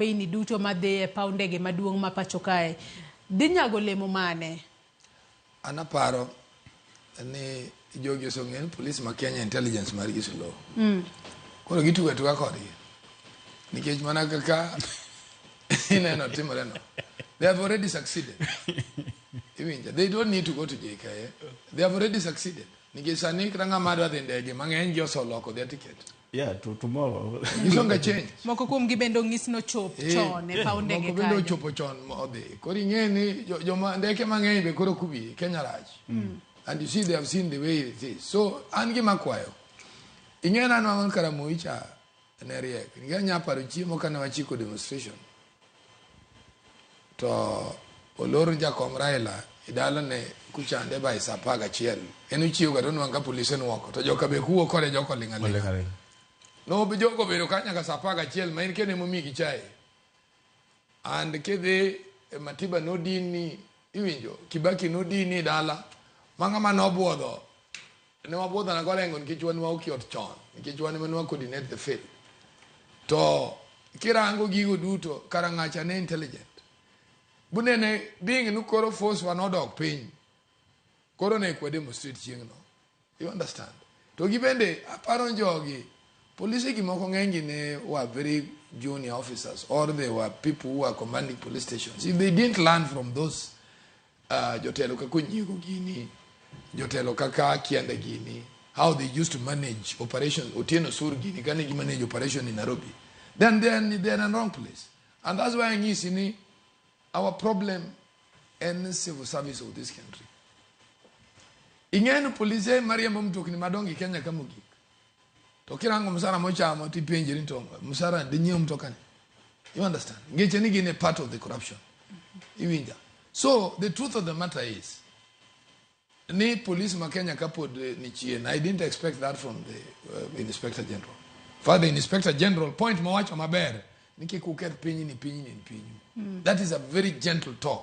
Weyni duto ma dhi e paw ndege maduong' ma pacho kae dhi nyago olemo mane? An aparo ni jogi osong'eyo ni polis ma Kenya intelligence mar gi slow. Mm. Koro gituga tuga kodgi. Nikech mana kaka ineno timore no. They have already succeeded. Iwinja. They don't need to go to JKA. They have already succeeded. Nikech sani kata ng'ama dwa dhi ndege mang'eny gi osoloko their ticket. Yeah, to tomorrow. Ng'ich onge change. Moko kuom gi bende ong'is nochop Eh, chon e paw ndege Moko bende kanyo. ochopo chon ma odhi. Koro ing'e ni jo- joma ndeke mang'eny be koro kubi Kenya rach. And you see they have seen the way it is. So an gima kwayo. Ing'e na nwangon Karamoicha ne riek. Ing'e nya paro chiemo kane wachiko demonstration. to olor jakom Raila e dalane kuchande by saa apar gachiel en ochiewoga to onwang' ka polise nwoko to joka be kuwo kode joka oling' aling' no jogo obedo ka nyaka saa apar gachiel ma en kendo emomigi chae and kidhi e matiba nodini iwinjo kibaki nodini dala ma ng'ama nobwodho Ne wabwodho nanga olengo nikech wan waoki ot chon nikech wan ema ne wa coordinate the field to kirango gigo duto karangacha ne intelligent bunene being ni koro force wa nodok piny koro ne kwa demonstrate chieng'no you understand to gi bende aparo jogi polise gi moko ng'enygi ne were very junior officers or they were people who were commanding police stations if they didn't learn from those Uh, jotelo kaka onyiego gini jotelo kaka kianda gini how they used to manage operation otieno sur gini kane gi manage operation in nairobi then they are, they are in wrong place and that's why anyisi ni our problem en civil service of this country ing'eyo ni polise mariembo mtokni madongo e kenya ka mogik to kirango msara mochamo to ipenje ni to msara dinyiew mtokani you understand ngeche ni gin a part of the corruption iwinja so the truth of the matter is ni police ma kenya kapod eh, ni chien i didn't expect that from the uh, inspector general father inspector general point mawacho maber ni kik uketh pinyni pinyni ni pinyu that is a very gentle talk